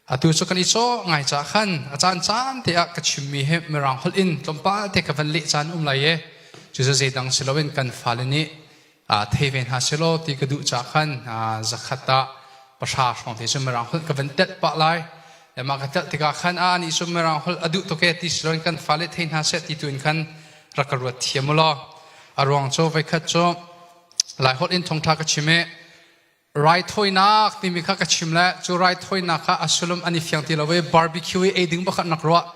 Atu cu kan i cawh ngai caah khan a caan caan te ah ka chimmi hi Mirang holh in tlawmpal te ka van leh caan um lai i cucu zeidang si loin kan fale nih thei ve hna selaw ti ka duh caah khan zakhat ah pahra hrawng te cu Mirang holh ka van telh pah lai. Mah ka telh tikah khan a nih cu Mirang holh a duh tuk e ti siloin kan fale thei hna seh ti tu in khan rak ka ruat thiam u law a ruang cu voikhat cu Lai holh in thongtha ka chim i raithawinak timi kha ka chim le cu raithawinak kha a sulum an i fiang ti lo i barbecue i ei ding bakhat nak ruah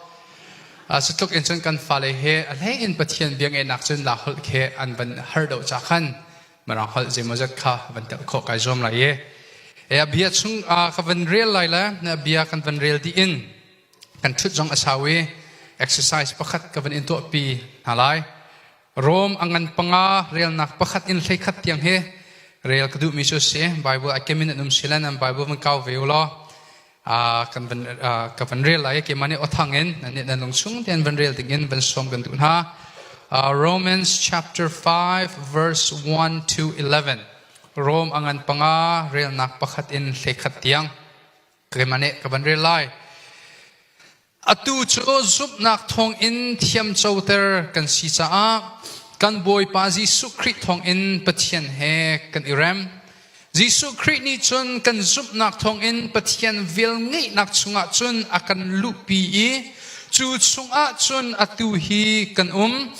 cu tluk in cun kan fale he a hlei in pathian biangenak cun la holh khi an van har do cha khan marang holh zeimaw zat kha van tel khawh kai zuam lai i e bia chung ka van rel lai le bia kan van rel di in kan thut zong a sawi exercise pakhat ka van in tuah pi hna lai Rom a ngan panga relnak pakhat in hlei khat tiang hi rel ka duh mi cu si Bible a kemin an um silan an Bible van kau ve ula kan van ka van rel lai ke mani othang in nan lung chung ten van rel ding in van som kan du na Romans chapter 5 verse 1 to 11 Rome angan panga relnak pakhat in hlei khat tiang ke mani ka van rel lai Atu cu zumhnak thawngin thiamcoter kan si caah kan Bawipa Jesuh Khrih thawngin Pathian he kan i rem. Jesuh Khrih nih cun kan zumhnak thawngin Pathian vel ngeihnak chungah cun a kan luhpi i cu chungah cun atu hi kan um.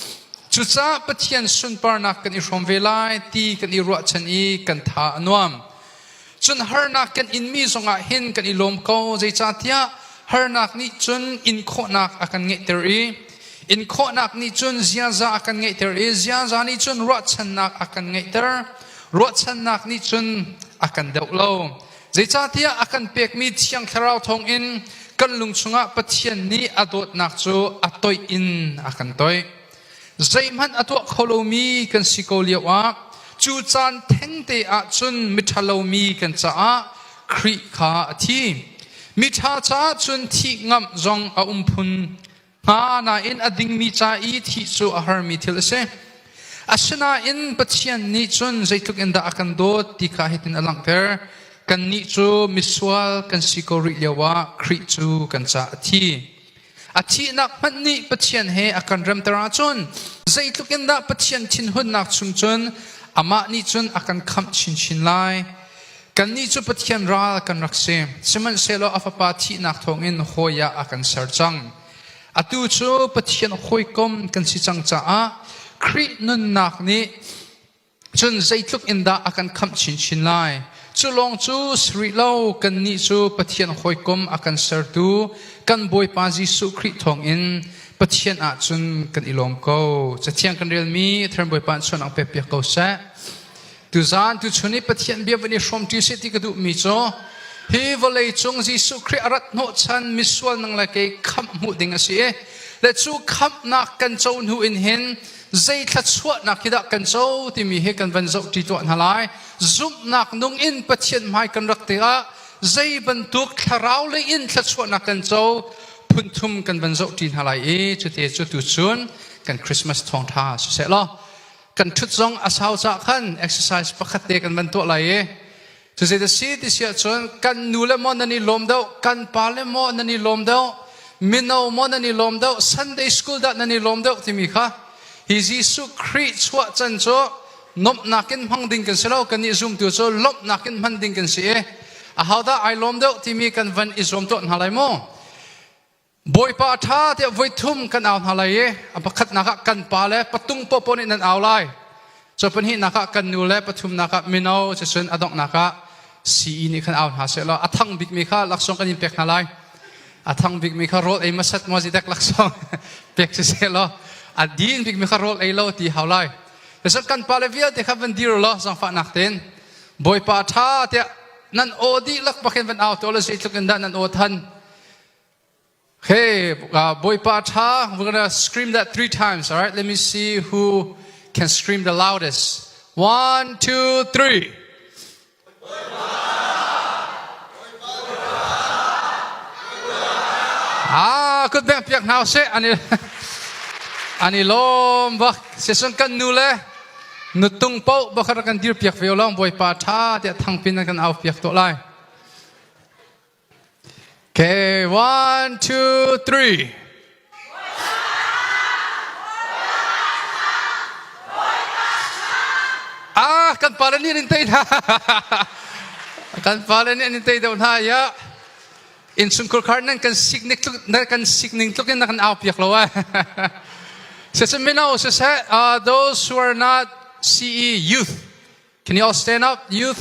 Cucaah Pathian sunparnak kan i hrawm ve lai ti kan i ruahchan i kan tha a nuam. Cun harnak kan inmi zongah hin kan i lawm ko, zeicahtiah harnak nih cun inkhawhnak a kan ngeihter i inkhawhnak nih cun ziaza a kan ngeihter i ziaza nih cun ruahchannak a kan ngeihter. Ruahchannak nih cun a kan deuh lo. Zeicahtiah a kan pekmi thiang thlarau thawngin kan lung chungah Pathian nih a dawtnak cu a toih in a kan toih. zeihmanh a tuah kho lomi kan si ko lio ah cu caan thengte ah cun miṭhalomi kan caah Khrih kha a thi. Miṭha caah cun thih ngamh zong a um phun hnga nain a dingmi ca i thih cu a harmi thil a si. Asinain Pathian nih cun zeitluk in dah a kan dawt ti kha hitin a langhter. Kannih cu misual kan si ko rih lio ah Khrih cu kan caah a thi. A thihnak hmanh nih Pathian he a kan remter ahcun zeitluk in dah Pathian thinhunnak chung cun amah nih cun a kan khamh chinchin lai. Kannih cu Pathian ral kan rak si. Sihmanhsehlaw a fapa thihnak thawngin hawi ah a kan ser cang. Atu cu Pathian hawikom kan si cang caah Khrih nunnak nih cun zeitluk in dah a kan khamh chinchin lai cu lawng cu si rih lo kannih cu Pathian hawikom a kan sertu kan Bawipa Jesuh Khrih thawngin Pathian ah cun kan i lawm ko cathiang kan relmi Athern Bawipa in chuan ang pek piak ko seh tu zan tu chun i Pathian bia van i hrawmṭi sih ti ka duhmi cu hi vawlei cung Jesuh Khrih a rat hnawh chan misual nang le kei khamh hmuh ding a si i le cu khamhnak kan co hnu in hin zei thluachuahnak hi dah kan co timi he kan van zoh ṭi tuah hna lai. Zumhnak nung in Pathian hmai kan rak te ah zei bantuk thlarau lei in thluachuahnak kan co phunthum kan van zoh ṭi hna lai i cute cu tu cun kan Christmas thawngṭha siseh law kan ṭhut zong a sau cah khan exercise pakhat te kan van tuah lai i Cucu a si ti si ahcun kan nu le maw nan i lawm deuh, kan pa le maw nan i lawm deuh, mino maw nan i lawm deuh, Sunday school dah nan i lawm deuh timi kha hi Jesuh Khrih chuah can cu nomhnak in hmang ding kan si lo, kan nih zumtu cu lawmhnak in hman ding kan si i ahodah ai lawm deuh timi kan van i zuam tuah hna lai mu. Bawipa ṭha tiah voi thum kan au hna lai i a pakhatnak ah kan pa le patung popo nih nan au lai. Cu pahnihnak ah kan nu le pathumnak ah mino cun a donghnak ah sii nih khan au hna sehlaw a thang bikmi kha laksawng kan in pek hna lai. A thang bikmi kha rawl ei masat ngwa zidek laksawng pek si sehlaw a din bikmi kha rawl ei lo ti hau lai. Cun kan pa le vialte kha van dir law zangfahnak tein Bawipa ṭha tiah nan aw dih lak pakin van au to le zeitluk in dah nan aw than Okay, uh, Bawipa Tha, we're going to scream that three times. All right, let me see who can scream the loudest. One, two, three. Ah, kut beng piak hna se. Ani, ani lom bak. Sesun kan nu le nutung po bakar kan dir piak ve long Bawipa Tha tiah thangpin kan au piak to lai. Okay, one, two, three. Ah, kan pale nih an in tei hna. kan pale nih an in tei deuh hna ya. Insungkur khar nan kan signik tluk nan kan signing tluk in na kan au piak lo ai. Sese mino sese uh, those who are not CE youth, can you all stand up, youth?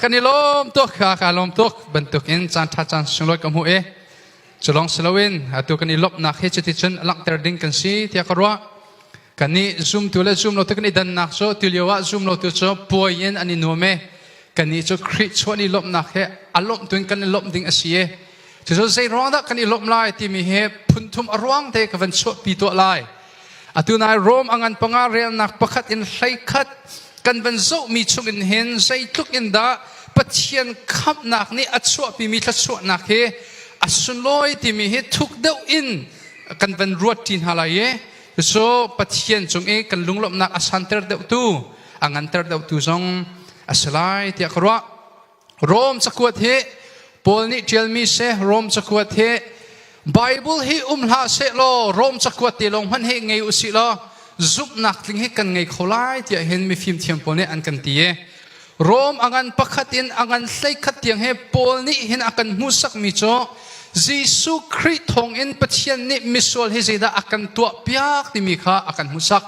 kan i lawm tuk kha ka lawm tuk bantukin caan ṭha caan sunglawi ka hmuh i cu lawng si loin atu kan i lawmhnak hi cuticun langhter ding kan si tiah ka ruah kan i zumtu le zum lo tu kan i dannak cu tu lio ah zum lo tu cu puai in an i nuam e kan i cu Khrih chuan i lawmhnak he a lawmh tuin kan i lawmh ding a si e cucu zei ruang dah kan i lawmh lai timi hi phunthum a ruang te ka van chuahpi tuah lai Atu nai Rome angan panga relnak pakhat in hlei khat kan van zohmi chungin hin zeitluk in dah Pathian khamhnak nih a chuahpimi thluachuahnak hi a sunlawi timi hi thuk deuh in kan van ruat ṭi hna lai i cucu Pathian cung i kan lunglawmhnak a santer deuhtu a nganter deuhtu zong a si lai tiah ka ruah. Rom cakuat hi Paul nih ṭialmi se Rom cakuat hi Bible hi um hlah seh law Rom cakuat te lawng hmanh hi ngei u sih law zumhnak tling hi kan ngei kho lai tiah hin mifim thiam pawl nih an kan ti i Rom a ngan pakhat in a ngan hleikhat tiang he Paul nih hin a kan hmuhsakmi cu Jesuh Khrih thawngin Pathian nih misual hi zeidah a kan tuah piak timi kha a kan hmuhsak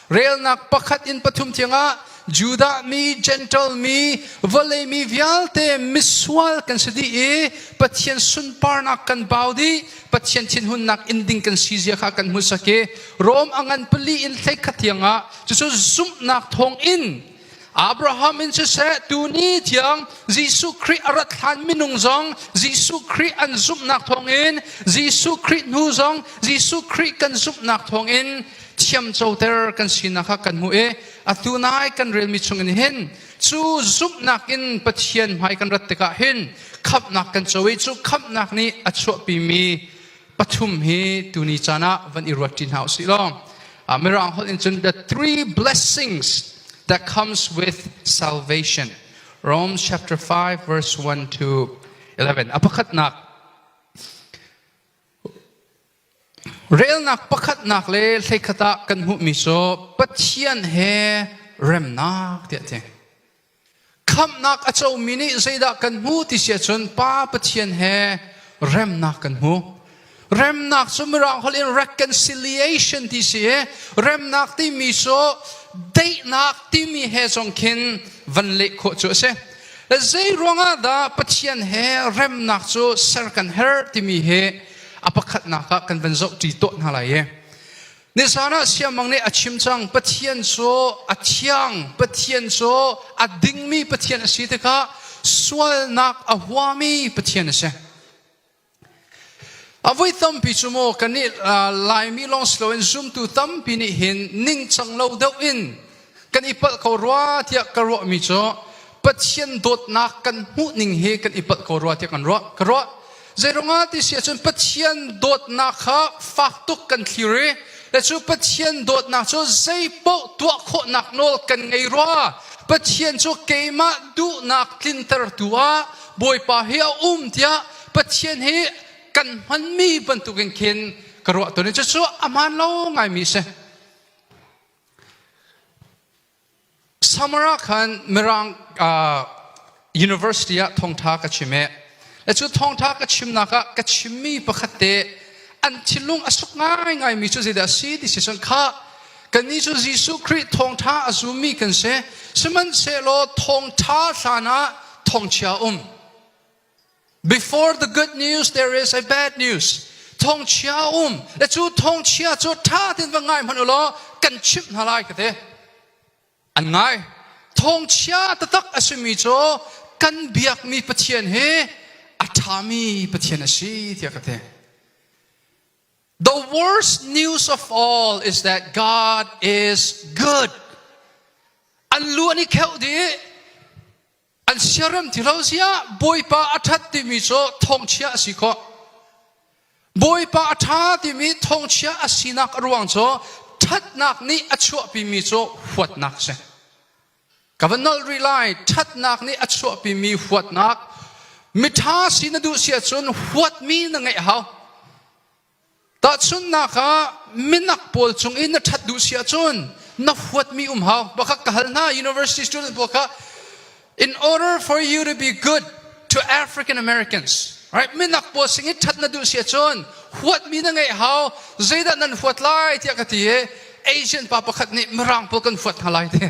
Relnak pakhat in pathum tiangah Judah mi, Gentle mi, vawlei mi vialte misual kan si dih i Pathian sunparnak kan bau dih, Pathian thinhunnak in ding kan si zia kha kan hmuhsak i Rom a ngan pali in hlei khat tiangah cucu zumhnak thawng in Abraham in siseh tuni tiang Jesuh Khrih a rat hlan minung zong Jesuh Khrih an zumhnak thawngin Jesuh Khrih hnu zong Jesuh Khrih kan zumhnak thawngin thiamcoter kan sinak kha kan hmuh i atu nai kan relmi chungin hin cu zumhnak in Pathian hmai kan rat tikah hin khamhnak kan co i cu khamhnak nih a chuahpimi pathum hi tuni caan ah van i ruat ṭi hna usih law uh, mirang holh in cun the three blessings that comes with salvation Romans chapter 5 verse 1 to 11 a pakhatnak relnak pakhatnak le hleikhat ah kan hmuhmi cu Pathian he remnak tiah ti khamhnak a comi nih zeidah kan hmu ti si ahcun Pa Pathian he remnak kan hmu. Remnak cu Mirang holh in reconciliation ti si i remnak timi cu daihnak timi he zong khin van leh khawh cu a si. Zei ruangah dah Pathian he remnak cu ser kan herh timi hi a pakhatnak ah kan van zoh ṭi tuah hna lai i Nisan ah siangmang nih a chim cang Pathian cu a thiang Pathian cu a dingmi Pathian a si tikha sualnak a huami Pathian a si a vui tampi cu maw kan nih Laimi long si loin zumtu tampi nih hin ningcang lo deuh in kan i palh ko rua tiah ka ruahmi cu Pathian dawtnak kan hmuhning hi kan i palh ko rua tiah kan ruah ka ruah zeirungah ti si ahcun Pathian dawtnak kha fak tuk kan thlir i le cu Pathian dawtnak cu zeipaoh tuah khawhnak nawl kan ngei rua Pathian cu keimah duhnak tlintertu ah Bawipa hi a um tiah Pathian hi kan hmanmi bantukin khin ka ruah ton i cucu a hmaan lo ngaimi a si Summer ah khan Mirang University ah thawngṭha ka chim i le cu thawngṭha ka chimnak ah ka chimmi pakhat te an thinlung a suk ngaingaimi cu zeidah a si ti si cun kha kannih cu Jesuh Khrih thawngṭha a zummi kan si sihmanhsehlaw thawngṭha hlan ah thawngchia um Before the good news, there is a bad news. Thongchia um. Le cu thongchia cu tha tin va ngai hmanh ulaw kan chimh hna lai ka te. An ngai. Thongchia tatak a simi cu kan biakmi Pathian hi a thami Pathian a si tiah ka te. The worst news of all is that God is good. An lu an i kheuh dih. an siaram ti lo siah bawipa a ṭhat timi cu thongchia a si khawh bawipa a ṭha timi thongchia a sinak a ruang cu ṭhatnak nih a chuahpimi cu huatnak si ka va nolh rih lai ṭhatnak nih a chuahpimi huatnak miṭha si na duh si ahcun huatmi na ngeih hau Tahchunhnak ah, minak pawl cung i na ṭhat duh si ahcun na huatmi um hau. Pakhat ka hal hna, university student pawl kha in order for you to be good to African Americans, right? Minak pawl sin i ṭhat na duh si ahcun huatmi na ngeih hau. Zeidah nan huat lai tiah ka ti i Asian pa pakhat nih mirang pawl kan huat hna lai ti.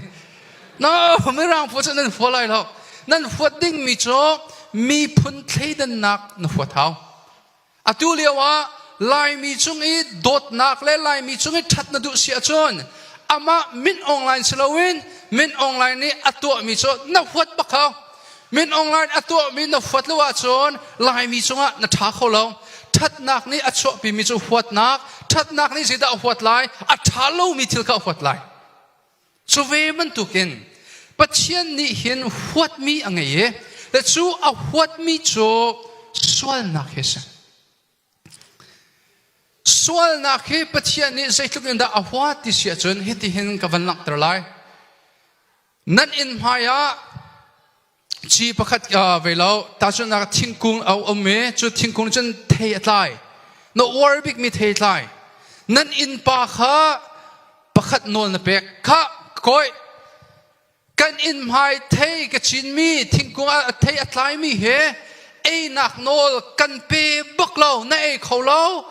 No, mirang pawl cu nan huat lai lo. Nan huat dingmi cu miphun thleidannak na huat hau. Atu lio ah Laimi cung i dawtnak le Laimi cung i ṭhat na duh si ahcun amah Mint Online si loin Mint Online nih a tuahmi cu na huat bak hau. Mint Online a tuahmi na huat lo ahcun Laimi cungah na ṭha kho lo. Ṭhatnak nih a chuahpimi cu huatnak, ṭhatnak nih zeidah a huat lai? A ṭha lomi thil kha a huat lai. Cu ve bantukin Pathian nih hin huatmi a ngei i le cu a huatmi cu sualnak hi si. Sualnak hi Pathian nih zeitluk in dah a huat ti si ahcun hitihin ka van langhter lai. Nan inn hmaiah Ci pakhat ve lo tahchunhnak thingkung a um i cu thingkung nih cun thei a tlai na uar bikmi thei tlai nan innpa kha pakhat nawl na pek kha koi kan inn hmai thei ka cinmi thingkung ah thei a tlaimi he einak nawl kan pe bak lo na ei kho lo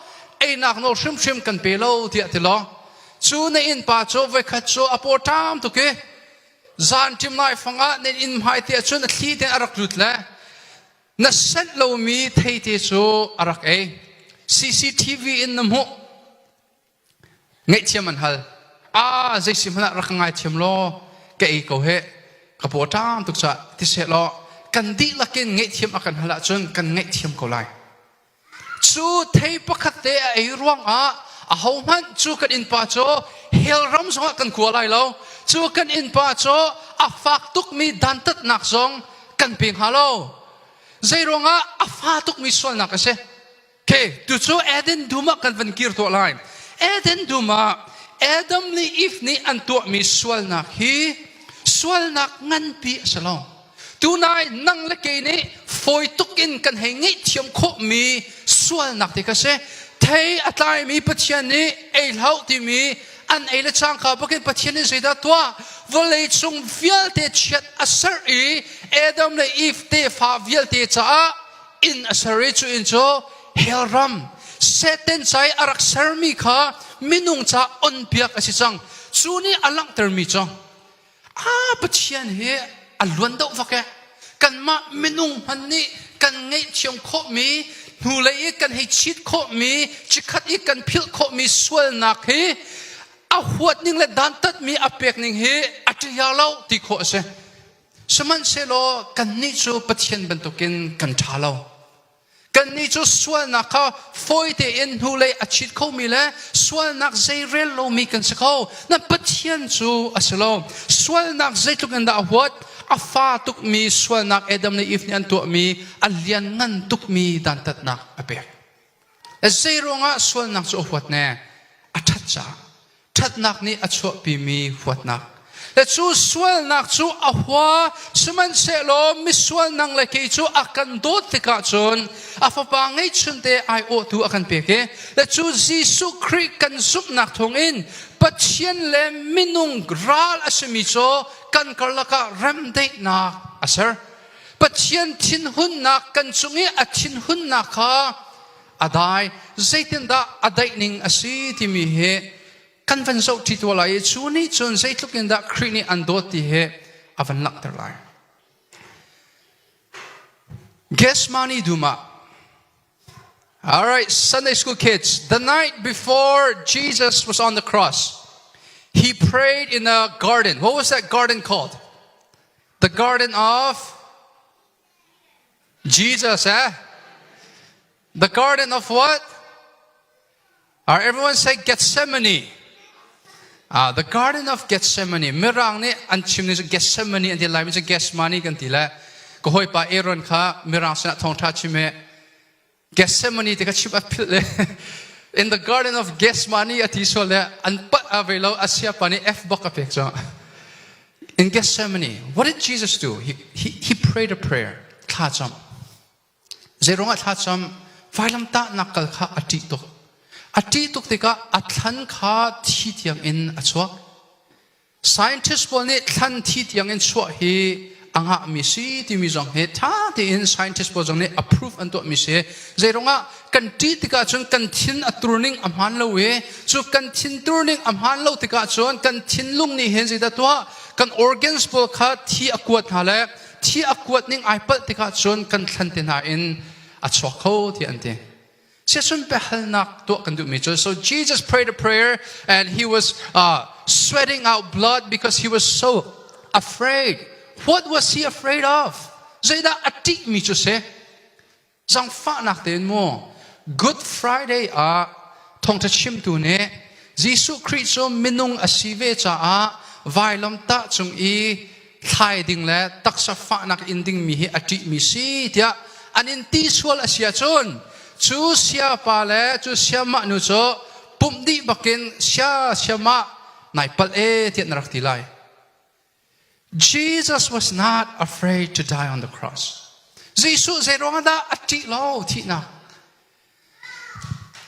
einak nawl hrimhrim kan pe lo tiah ti lo cu na innpa cu voikhat cu a pawṭam tuk i Zanṭim nai fangah nan inn hmaite ahcun a thli ten a rak lut le na senh lomi theite cu a rak ei. CCTV in na hmuh. Ngaihthiam an hal. A, zeisi hmanh ah rak ka ngaithiam law ka ei ko he. Ka paw ṭang tuk cah. Ti seh law kan dihlak in ngaihthiam a kan hal ahcun kan ngaihthiam ko lai. Cu thei pakhat te a ei ruangah ahohmanh cu kan innpa cu hell ram zongah kan kua lai lo. Cu kan innpa cu a fak tukmi dantatnak zong kan pe hnga lo. Zeiruangah a fa tukmi sualnak a si. Okay, tucu Eden dum ah kan van kir tuah lai. Eden dum ah Adam le Eve nih an tuahmi sualnak hi sualnak nganpi a si lo. tunai nang le kei nih fawi tuk in kan hei ngaihthiam khawhmi sualnak te kha si thei a tlaimi pathian nih ei hlah timi an ei le cang ka bakin pathian nih zeidah tuah vawlei cung vialte chiat a ser i Adam le Eve tefa vialte caah inn a ser i cu inn cu hell ram Satan cai a rak sermi kha minung ca onpiak a si cang cu nih a langhtermi cu a Pathian hi a luan deuh vak eh kanmah minung hman nih kan ngeihthiam khawhmi hnulei i kan hei chit khawhmi chikhat i kan philh khawhmi sualnak hi a huat ning le dantatmi a pek ning hi a ṭihiar lo ti khawh a si sihmanhsehlaw kannih cu Pathian bantukin kan ṭha lo Kannih cu sualnak kha fawi tein hnulei a chit khomi le sualnak zeirel lomi kan si kho. Na Pathian cu a si lo. Sualnak zeitluk in dah a huat, a fa tukmi sualnak Adam le Eve nih an tuahmi, a lianngan tukmi dantatnak a pek. Zei ruangah sualnak cu a huat ne? A ṭhat caah. ṭhatnak nih a chuahpimi huatnak. Le cu sualnak cu a hua, sihmanhsehlaw misual nang le kei cu a kan dawt tikah cun a fapa ngeihchunte aiawhtu a kan pek i le cu Jesuh Khrih kan zumhnak thawngin Pathian le minung ral a simi cu kan karlak ah remdaihnak a ser. Pathian thinhunnak kan cung i a thinhunnak kha a dai zeitindah a daih ning a si timi hi kan van zoh ṭi tua lai i cu nih cun zeitluk in dah Khrih nih an dawt ti hi a van langhter lai Gesmani dum ah All right, Sunday school kids, the night before Jesus was on the cross, he prayed in a garden. What was that garden called? The garden of Jesus eh? The garden of what? Are everyone say Gethsemane? Ah, the garden of Gethsemane. Mirang nih an chim ni Gethsemane an ti lai mi cu Gethsemane kan ti le. Ka hoi pa Aaron kha mirang sinah thawngtha chim e Gethsemane ti ka chim a philh le in the garden of Gethsemane a ti sual le an pat a ve lo asia pa nih f bok a pek cu in Gethsemane what did Jesus do he, he, he prayed a prayer thlacam zeirong ah thlacam vailamtah nak kal kha a ṭih tuk a ṭih tuk tikah a thlan kha thi thiang in a chuak Scientist pawl nih thlan thi tiangin chuah hi a ngahmi si timi zong hi ṭha tein scientist pawl zong nih approve an tuahmi si zeiruangah kan ṭih tikah cun kan thin a turning a hmaan lo i cu kan thin turning a hmaan lo tikah cun kan thinlung nih hin zeidah tuah kan organs pawl kha thi a kuat hna le thi a kuat ning ai palh tikah cun kan thlan te hna in a chuak kho tiah an ti Chiasun biahalnak tuah kan duhmi cu, so Jesus prayed a prayer and he was uh, sweating out blood because he was so afraid. What was he afraid of? Zeidah a ṭihmi cu si? Zangfahnak tein mu. Good Friday ah thawngṭha chimtu nih Jesuh Khrih cu minung a si ve caah vailamtah cung i thlai ding le taksa fahnak in dingmi hi a ṭihmi si tiah an in ti sual a si ahcun cu siapa le cu siamah nu cu pumh dih bakin sia siamah nai palh e tiah na rak ti lai Jesus was not afraid to die on the cross Jesuh zei ruangah dah a ṭih lo thihnak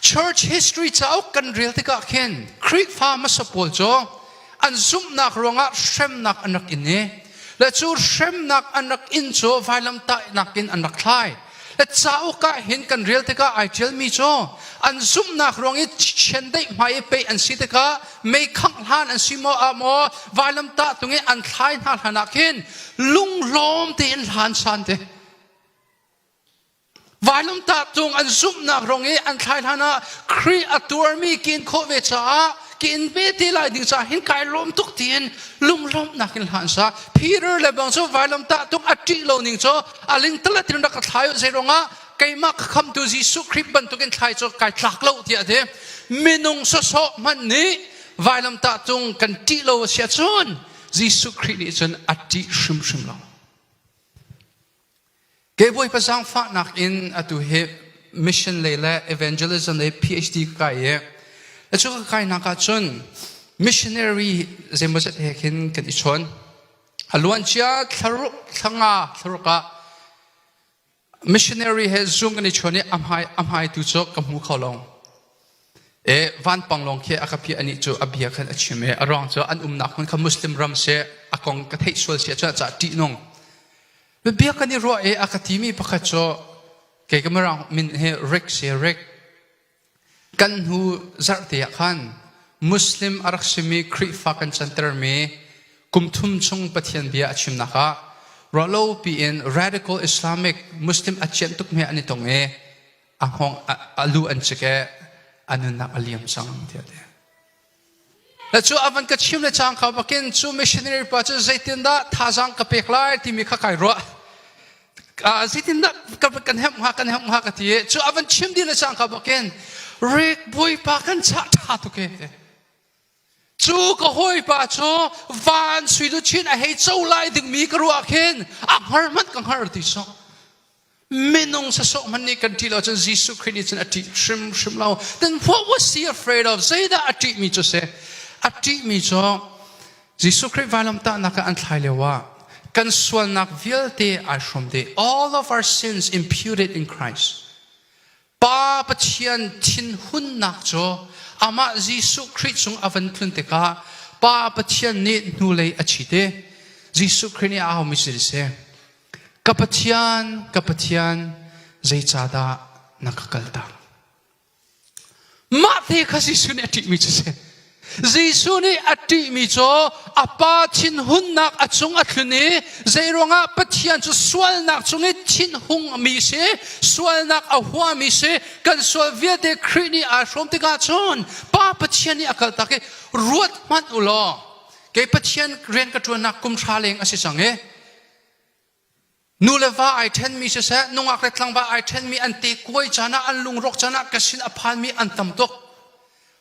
Church history cauk kan rel tikah khin Khrihfa hmasa pawl cu an zumhnak ruangah hremnak an rak in i le cu hremnak an rak in cu vailamtahnak in an rak thlai le cauk ah hin kan rel tikah ai ṭialmi cu an zumhnak ruang i chiandeih hmai i pei an si tikah meikhangh hlan an si maw a maw vailamtah tung i an thlai hna hlanah khin lunglawm tein hlan san te Vanlungtah cung an zumhnak rong i an thlai hlan ah Khrih a tuarmi ka in khawh ve caah ka in ve ti lai ding caah hin kai lawm tuk tiin lunglawmhnak in hlan sa. Peter le bang cu vanlungtah tung a ṭih lo ning cu a lingtala tin rak ka thlai u zeirongah keimah ka khamtu Jesuh Khrih bantukin thlai cu kai tlak lo tiah a ti. Minung sawsawh hmanh nih vanlungtah tung kan ṭih lo a si ahcun Jesuh Khrih nih cun a ṭih hrimhrim lo. Kebawipa zaangfahnak in atu hi mission lei le evangelism le PhD ka kai i a cu ka kainak ah cun missionary zeimawzet he khin kan i chawn a luancia thlaruk thlanga thlaruk ah missionary he zoom kan i chawn i ahmai ahmai tu cu ka hmu kho long e vanpang long khi akapi ani cu abia khan achim e arong cu an umnak hmun kha muslim ram se akong ka thei sual se cha cha ti nung Biabia kan i ruah i a ka timi pakhat cu kei ka mirang min hi Rick si Rick. Kan hnu zarhte ah khan Muslim a rak simi Khrihfa kan cantermi kum thum chung Pathian bia a chimnak ah ruahlo piin radical Islamic Muslim a cianh tukmi an i tong i a hngawng a, a lu an cik i a nunnak a liam cang tiah ti. Na cu a van ka chim le cang kha bakin cu missionary pa cu zeitindah thazaang ka pek lai timi kha kai ruah. Zeitindah kan hemh hnga kan hemh hnga ka ti cu a van chim dih le cang kha bakin Rick Bawipa kan chah ṭha tuk e. Cu ka hawipa cu van sui lu chin a hei co lai dingmi ka ruah khin a hngar hmanh ka hngar ti sawh. Minung sasawh hman nih kan ṭih lo cun Jesuh Khrih nih cun a ṭih hrimhrim lo. Then what was he afraid of? Zeidah a ṭihmi cu si? A ṭihmi cu Jesuh Khrih vailamtahnak ah an thlai lio ah kan sualnak vialte ai hrawm dih. All of our sins imputed in Christ. Pa Pathian thinhunnak cu amah Jesuh Khrih cung a van tlun tikah Pa Pathian nih hnulei a ṭhit i Jesuh Khrih nih a aumi cu dih si, Ka Pathian, ka Pathian, zeicahdah na ka kaltak? Mahte kha Jesuh nih a ṭihmi cu si. Jesuh nih a ṭihmi cu a pa thinhunnak a cung a tlun i zeiruangah Pathian cu sualnak cung i thinhungmi si, sualnak a huami si, kan sual vialte Khrih nih aa hrawm tikah cun Pa Pathian nih a kaltak i ruat hmanh u law kei Pathian rian ka ṭuannak kum hra leng a si cang i Nu le va ai ṭhenmi siseh, nungak le tlangva ai ṭhenmi an te kuai caan ah, an lungrawk caan ah ka sin a phanmi an tam tuk.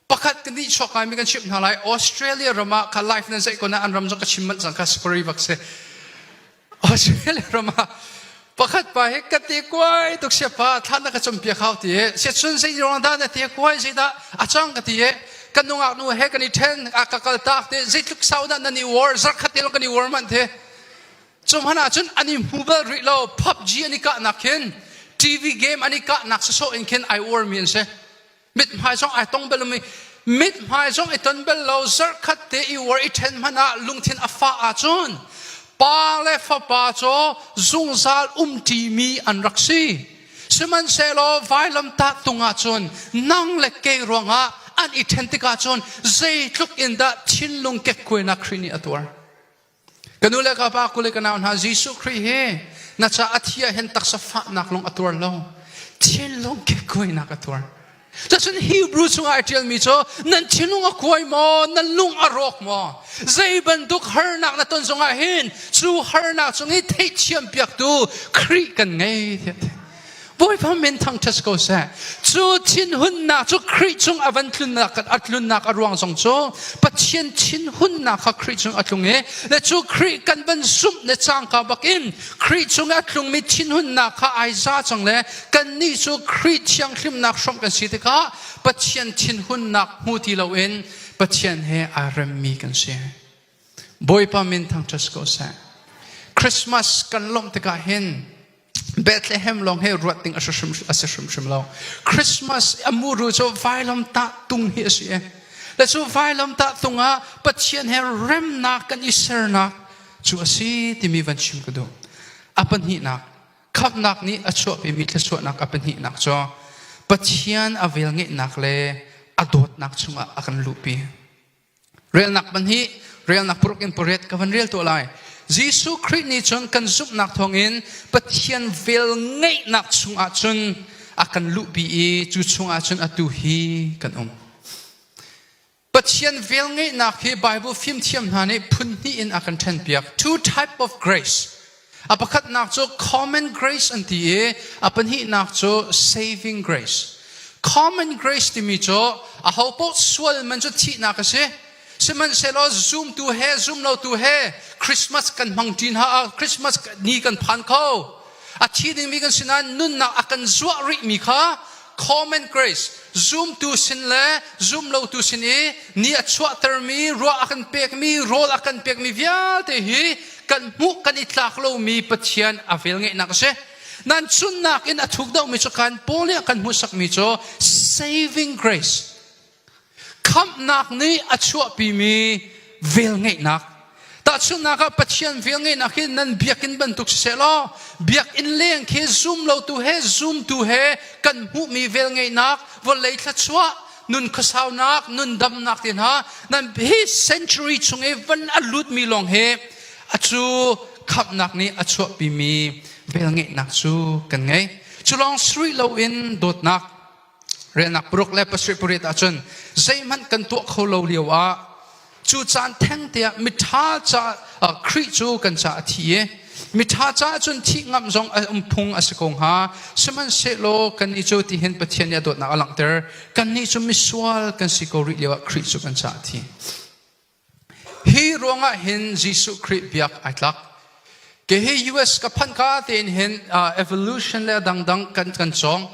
Pakhat ka nihchuak kaimi kan chimh hna lai. Australia ram ah ka life nan zei kon ah an ram zong ka chim manh cang ka spari vak si. Australia ram ah pakhat pa hi ka te kuai tuk sia pa thlan na ka cumpiak hau ti se chun zei rong da na te kuai zei da a chang ka ti kan nungak nu he kan i ṭhen a ka kal tak te zeitluk sau da na ni war zarkhat te long kan i war man te Cuhmanh ahcun an i hmu bal rih lo. PUBG an i kahnak khin TV game an i kahnak sasawh in khin ai uarmi an si. Mithmai zong ai tong bal lomi mithmai zong i ton bal lo zarkhat te i uar i ṭhen hmanh ah lungthin a fah ahcun pa le fapa cu zungzal umṭimi an rak si. Sihmanhsehlaw vailamtah tung ahcun nang le kei ruangah an i ṭhen tikah cun zeitluk in dah thinlung kekkuainak Khrih nih a tuar. Ka nu le ka pa kule ka nau hna Jesuh Khrih hi na caah a thi ah hin taksa fahnak lung a tuar lo thinlung kekkuainak a tuar Cun Hebrew chungah i ṭialmi cu nan thinlung a kuai maw nan lung a rawk maw zei bantuk harnak na ton zongah hin cu harnak cung i theithiam piaktu Khrih kan ngei tiah Bawipa min thangṭhat ko seh. Cu thinhunnak cu Khrih cung a van tlunnak a tlunnak a ruang zong cu Pathian thinhunnak kha Khrih cung a tlung i le cu Khrih kan van zumh le cangka bak in Khrih cung a tlungmi thinhunnak kha ai za cang le kannih cu Khrih thianghlimnak hrawm kan si tikah Pathian thinhunnak hmu ti loin Pathian he aa remmi kan si. Bawipa min thangṭhat ko seh. Christmas kan lawmh tikah hin Bethlehem lawng hi ruat ding a si hrimhrim lo. Christmas a muru cu vailomtah tung hi a si e. Le cu vailomtah tung ah Pathian he remnak kan i sernak cu a si timi van chim ka duh. A pahnihnak, khamhnak nih a chuahpimi thluachuahnak a pahnihnak cu Pathian a velngeihnak le a dawtnak chungah a kan luhpi. Relnak pahnih relnak paruk in pariat ka van rel tuah lai. Jesuh Khrih nih cun kan zumhnak thawngin Pathian vel ngeihnak chungah cun a kan luhpi i cu chungah cun atu hi kan um. Pathian vel ngeihnak hi Bible fimthiam hna nih phun hnih in a kan ṭhenpiak. Two type of grace. A pakhatnak cu common grace an ti i a pahnihnak cu saving grace. Common grace timi cu aho paoh sual man cu thihnak a si. Sihmanhsehlaw zumtu he zumlotu he Christmas kan hmang ṭin hna, Christmas ni kan phan kho. A thi dingmi kan si nain nunnak a kan zuah rihmi kha common grace zumtu sin le zumlotu sin i ni a chuahtermi ruah a kan pekmi rawl a kan pekmi vialte hi kan hmuh kan i tlak lomi Pathian a vel ngeihnak a si nan chunnak in a thuk dohmi cu kan Paul nih kan hmuhsakmi cu saving grace Khamhnak nih a chuahpimi velngeihnak. Tahchunhnak ah Pathian velngeihnak hi nan biakinn bantuk siseh law biakinn leng khi zum lotu he zumtu he kan hmuhmi velngeihnak vawlei thluachuah nun khuasaunak nun damnak te hna nan hi century chung i van a lutmi lawng hi a cu khamhnak nih a chuahpimi velngeihnak cu kan ngei. Cu lawng sri loin dawtnak Riahnak paruk le pasarih pariat ahcun zeihmanh kan tuah kho lo lio ah cu caan thengte ah miṭha ca Khrih cu kan ca a thi i miṭha caah cun thih ngamh zong a um phung a si ko hnga sihmanhsehlaw kannih cu tihin Pathian nih a dawtnak a langhter kannih cu misual kan si ko rih lio ah Khrih cu kan ca a thi Hi ruangah hin Jesuh Khrih biak ai tlak. Kehi US ka phanh ka tein hin uh, evolution le dangdang kan kan cawng.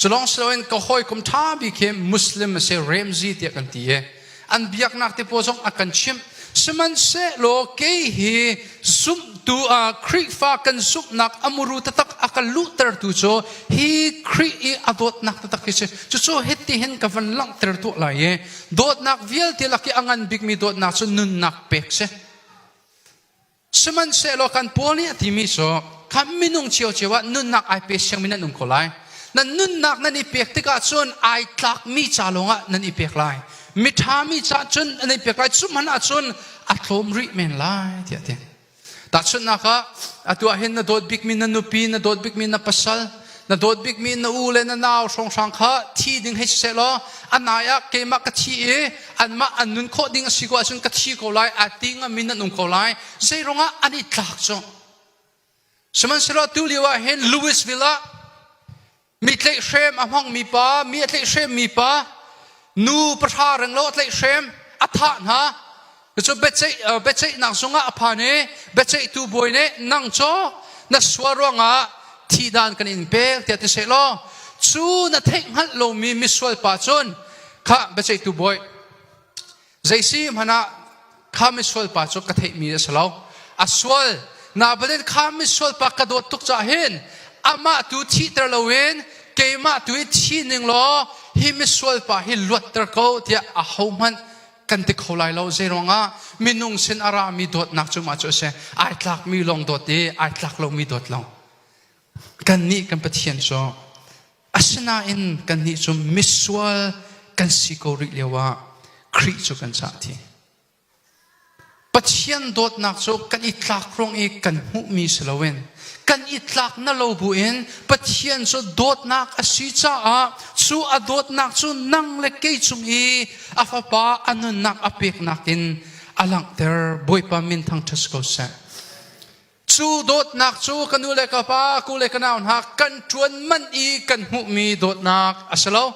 Culong siloin ka hawi kum tha bi khi Muslim ase Ramsey tiah kan ti e. An biaknak te po zong a kan chimh. Sihmanhsehlaw kei hi Zumtu ah Khrihfa kan zumhnak a muru taktak a kan luhtertu cu hi Khrih i a dawtnak taktak hi si cucu hiti hin ka van langhter tuah lai i dawtnak vialte lak i a ngan bikmi dawtnak cu nunnak pek si sihmanhsehlaw kan paul nih a timi cu kan minung cio cio ah nunnak ai pe siangmin an um ko lai nan nunnak nan i pek tikah cun ai tlakmi ca lawngah nan i pek lai miṭha mi caah cun an ei pek lai cu man ah cun a tlawm rih men lai tiah ti tahchunhnak ah atu ah hin na dawt bikmi na nupi na dawt bikmi na pasal na dawt bikmi na u le na nau hrawnghrang kha thi ding hei siseh law a nai ah keimah ka thi i anmah an nun khawh ding a si ko ahcun ka thi ko lai a ti ngami nan um ko lai zeirong ah an i tlak cu sihmanhsehlaw tu lio ah hin Louisville ah mi tlaihhrem a hmangmi pa mi a tlaihhremmi pa nu pahra reng lo a tlaihhrem a thah hna cu biaceihnak zungah a phan i biaceihtu bawi nih nang cu na sual ruangah thihdan kan in pek tiah ti seh law cu na theih hngalh lomi misual pa cun kha biaceihtu bawi zeisi hmanah kha misual pa cu ka theihmi a si lo a sual na balin kha misual pa ka dawt tuk cah hin amah tu thihter loin keimah tu i thi ning law hi misual pa hi luatter ko tiah a hohmanh kan ti kho lai lo zei ruangah minung sin a rami dawtnak cu mah cu a si ai tlakmi lawng dawt i ai tlak lomi dawt lo kannih kan pathian cu Asinain kannih cu misual kan si ko rih lioah Khrih cu kan cah ti. Pathian dawtnak cu kan i tlak ruang i kan hmuhmi si loin kan i tlak na lo buin Pathian cu dawtnak a si caah cu a dawtnak cu nang le kei cung i a fapa a nunnak a peknak in a langhter Bawipa min thang ṭhas ko seh. Cu dawtnak cu ka nu le ka pa, ku le ka nau hna kan ṭuan manh i kan hmuhmi dawtnak a si lo.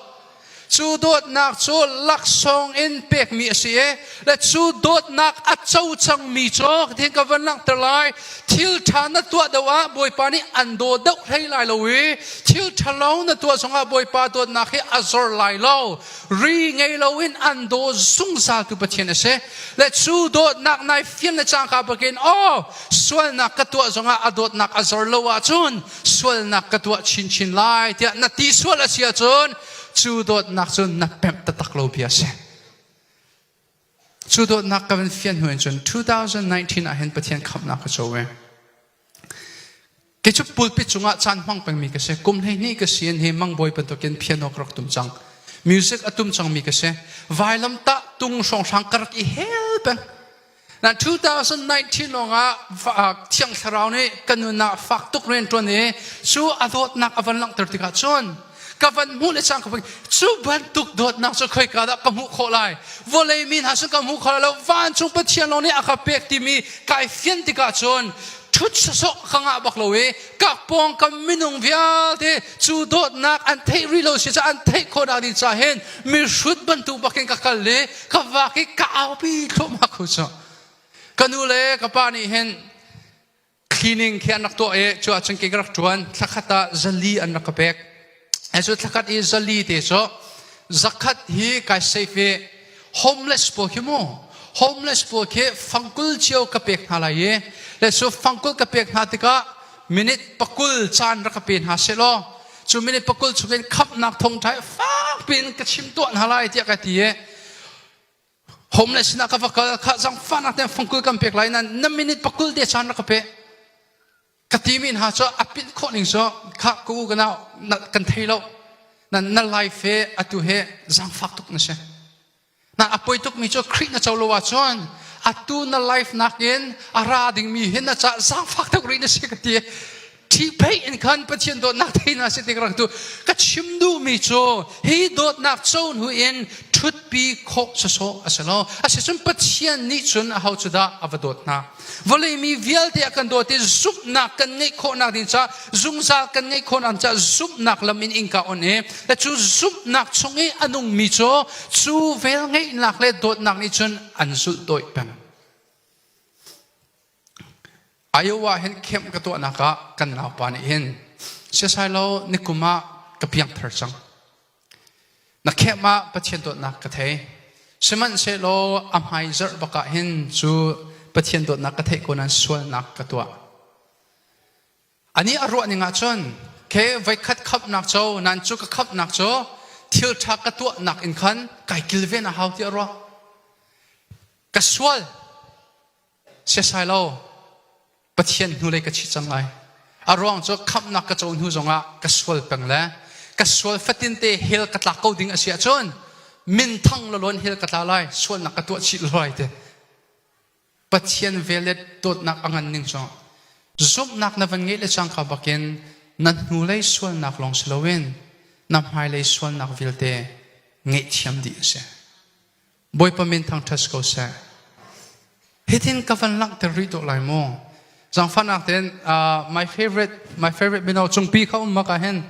Cu dawtnak cu laksawng in pekmi a si i le cu dawtnak a co cangmi cu thiin ka van langhter lai thil ṭha na tuah deuh ah Bawipa nih an daw deuh hlei lai lo i thil ṭha lawng na tuah zongah Bawipa dawtnak hi a zor lai lo. ri ngei loin an daw zungzaltu Pathian a si le cu dawtnak nai fian le cangka bakin aw sualnak ka tuah zongah a dawtnak a zor lo ahcun sualnak ka tuah chinchin lai tiah na ti sual a si ahcun cu dawtnak cu na pemh taktak lo bia a si Cu dawtnak ka van fian hnu in cun 2019 ah hin Pathian khamhnak ka co ve. Kei cu pulpit cungah caan hmang pengmi ka si. Kum hleihnih ka si in hi Mang Bawi bantukin piano ka rak tum cang. Music a tum cangmi ka si. Vailam tah tung hrawnghrang ka rak i hel peng. Na 2019 lawngah Thiang Thlarau nih ka nun ah fak tuk rian ṭuan i cu a dawtnak a van langhter tikah cun ka van hmuh le chang ka van cu bantuk dawtnak cu khoi ka dah ka hmuh khawh lai vawlei mi hna sun ka hmuh khawh lo vancung pathian lawng nih a ka pek timi kai fian tikah cun thut sosok ka ngah bak lo i kak pawngkam minung vialte cu dawtnak an theih rih lo si ca an theih khawhnak ding ca hin mi hrut bantuk bakin ka kal i ka vak i ka aupi thluahmah khu cu ka nu le ka pa nih hin Cleaning khi an rak tuah i cu ahcun ke ka rak ṭuan. Thlakhat ah zali an rak ka pek. He cu thlakhat i zali te cu zakhat hi kai safe i homeless pawl khi mu homeless pawl khi fangkul cio ka pek hna lai i le cu fangkul ka pek hna tikah minute pakul caan rak ka pe hna selaw cu minute pakul chungin khamhnak thongṭha fakpi in ka chim tuah hna lai tiah ka ti i homeless sinah ka va kal kha zangfahnak ten fangkul kan pek lai nan na minute pakul te caan rak ka pe ka ti mi hna cu a pinh khawh ning cu kha ku kana kan thei lo nan na life he atu he zangfak tuk na si na a poi tuk mi cu khrih na co lo ah cun atu na life nak in a ra ding mi hin na ca zangfak tuk ri na si ka ti Ṭhihpheih in khan Pathian dawtnak thei hna si tik rak tu ka chim duhmi cu hi dawtnak co hnu in ṭhutpi khawh sawsawh a si lo asicun Pathian nih cun a ho cu dah a va dawt hna vawlei mi vialte a kan dawt i zumhnak kan ngeih khawhnak ding caah zungzal kan ngeih khawhnak caah zumhnak lam in inka on i le cu zumhnak chung i a nungmi cu cu vel ngeihnak le dawtnak nih cun an zulh dawih peng Iowa hin camp ka tuahnak ah kan naupa nih hin siasai lo nikum ah ka piangthar cang. Na camp ah Pathian dawtnak ka thei. Sihmanhsehlaw a hmai zarh bak ah hin cu Pathian dawtnak ka theih ko nan sualnak ka tuah. Ani a ruah ning ahcun ke voikhat khamnak co nan cu ka khamnak cu thil ṭha ka tuahnak in khan kai kilven a hau tiah ruah. Ka sual Siasai lo, Pathian hnulei ka thi cang lai. A ruang cu khamhnak ka co hnu zongah ka sual peng le ka sual fatinte hell ka tlak ko ding a si ahcun minthang loloin hell ka tla lai sualnak ka tuah chih lai te Pathian vel le dawtnak a ngan ning cang zumhnak na van ngeih le cang ka bakin na hnulei sualnak lawng si loin na hmailei sualnak vialte ngeihthiam dih a si Bawipa min thang ṭhes ko seh. Hitin ka van langhter rih dawh lai maw? Zangfahnak tein uh, my favorite my favorite mino cungpi kha um maka hin.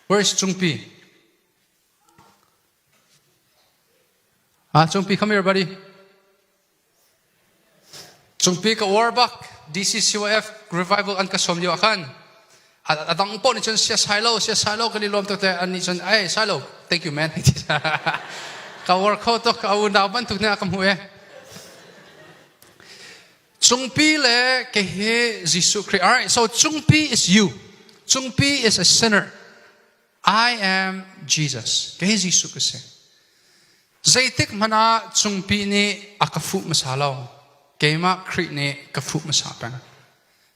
Where is cungpi? Ah, uh, cungpi come here buddy. Cungpi ka uar bak DCCOF revival an ka sawm lio ah khan a dang poh nih cun sia sai lo sia sai lo kan i lawm tuk te an nih cun ai sai lo thank you man ka uar kho tuk ka unau bantuk ne ka hmu e Cungpi le ke hi Jesuh Christ alright so Cungpi is you Cungpi is a sinner I am Jesus. Kei Jesuh ka si. Zeitik hmanh ah cungpi nih a ka fuh hmasa lo. Keimah Khrih nih ka fuh hmasa peng.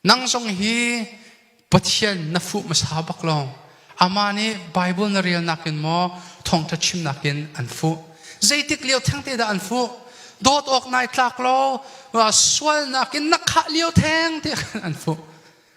Nang zong hi Pathian na fuh hmasa bak lo. Amah nih Bible na relnak in maw thawngtha chimnak in an fuh. Zeitik lio thengte dah an fuh? Dawt awk nai tlak lo sualnak in na khah lio thengte an fuh.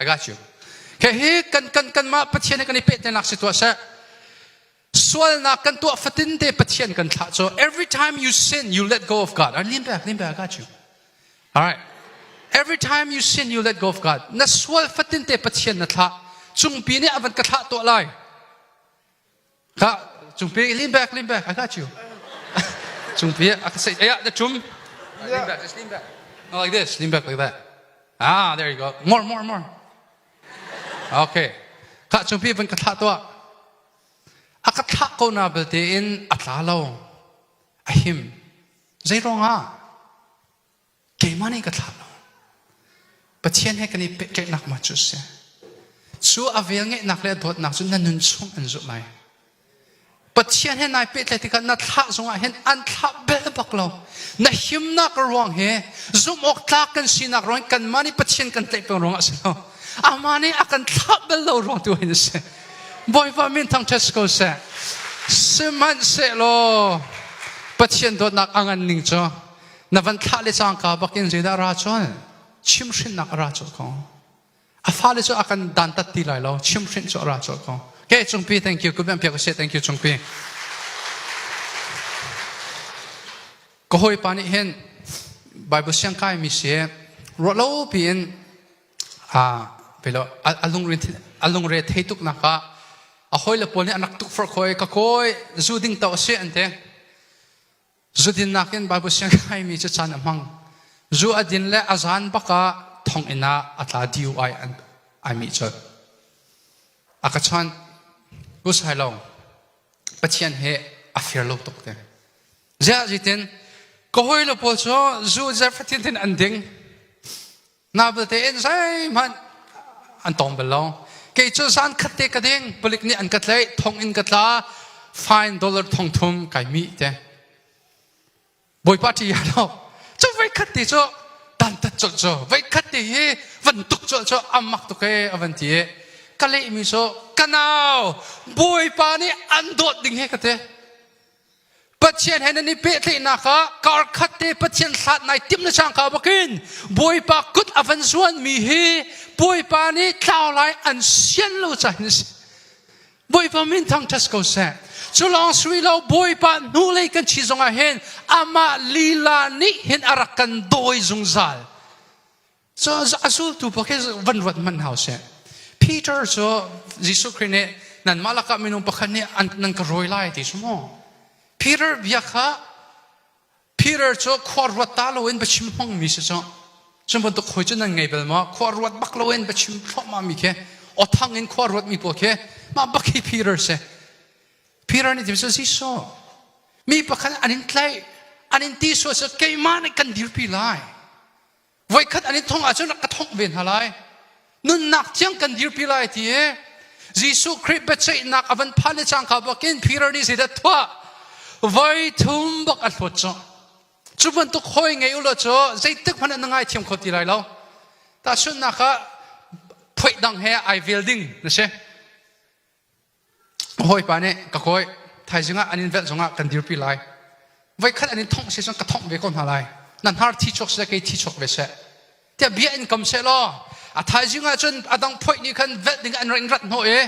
I got you. Okay, hi kan kan kanmah Pathian he kan i pehtainak si tuah seh. Sualnak kan tuah fatin te Pathian kan thlah so every time you sin you let go of God. All right, lean back, lean back. I got you. All right. Every time you sin you let go of God. Na sual fatin te Pathian na thlah. Cungpi nih avan ka thlah tuah lai. Kha cung pi lean back lean back I got you. cung pi I can say yeah the chum lean back just lean back. No, like this lean back like that. Ah there you go. More more more. Okay. Kha cung pi van ka thlah tua. A ka thlah ko na belte in a tla lo. A him. Zei rong ah keimah nih ka thlah lo pathian he kan i pehtlaihnak ma cu si cu a vel ngeihnak le dawtnak cu na nun chung an zulh lai pathian he nai pehtlaih tikah na thlah zongah hin an thlah bel bak lo na himnak ruang he zumh awk tlak kan sinak ruang kanmah nih pathian kan tlaih peng ruangah si lo amah nih a kan thlah bel lo ruang tu hin si bawipa min thang ṭhes ko seh sihmanhsehlaw pathian dawtnak a ngan ning cu na van thlah le cangka bakin zeidah ra cun chimhrinnak a ra cawlh ko a fale cu a kan dantat ti lai lo chimhrinh cu a ra cawlh ko okay cungpi thank you kubian pia ko se thank you cungpi ka hawi pa nih hin bible siang kai mi si ro lo piin a pelo alungre alungre thei tuk naka a hoi le pawl nih anak tuk far khoi ka koi zu ding to se an te Zudin nakin Baibal Siangpahrangmi cu caan a hmang. Zu a din le a zan bak ah thonginn ah a tla DUI an ai mih colh. A ka chawnh. Usai lo. Pathian he a fir lo tuk te. Ziah zitin ka hawi le pawl cu zu zafatin an ding. na belte in zeihmanh an tong bal lo kei cu zan khat te ka ding palik nih an ka tlaih thong in ka tla fine dollar thong thum kai mi te bawipa ti ya lo cu voi khat ti cu dantat col cu voi khat ti hi van tuk cu cu amak tuk e avan ti ka leh mi so kanau bawipa nih an dawt ding he ka te Pathian he nan i pehtlaihnak ah karkhat te Pathian hlat nai timh le sang ka bakin Bawipa kut a van zuanmi hi Bawipa nih tlau lai an sian lo ca hin si. Bawipa min thang ṭhas ko seh. Cu lawng sui lo Bawipa hnulei kan chi zongah hin amah lila nih hin a rak kan dawi zungzal. So a zultu pa khi van ruat man hau se. Peter cu Jesuh Khrist nih nanmah lakah minung pakhat nih nan ka rawi lai ti su mu. Peter bia kha Peter cu khua ruat ta loin bachim hmang mi si cu. Cu bantuk hoi cu nan ngei bel maw? Khua ruat bak loin bachim thlawma mi khi othang in khua ruat mi pawl khi mah bak hi Peter si. Peter nih tim cu Jesuh mi pakhat an in tlaih an in ti sual cu keimah nih kan dirpi lai. voikhat an i thong ahcun ka thongh ve hna lai nunnak thiang kan dirpi lai ti i Jesuh Khrih biaceihnak a van phan le cangka bakin Peter nih zeidah thuah voi thum bak a hlawt cu cu bantuk hawi ngei ulaw cu zeitik hmanh na ngai thiam kho ti lai lo tahchunhnak ah phoih dang he ai vel ding na si hawipa nih ka kawi thaizing ah an in velh zongah kan dirpi lai voikhat an in thongh se cun ka thongh ve ko hna lai na hnar thi chuak seh kei thi chuak ve seh tiah bia in kam seh law a thaizing ah cun a dang phoih nih khan velh ding an ring rat hnawh i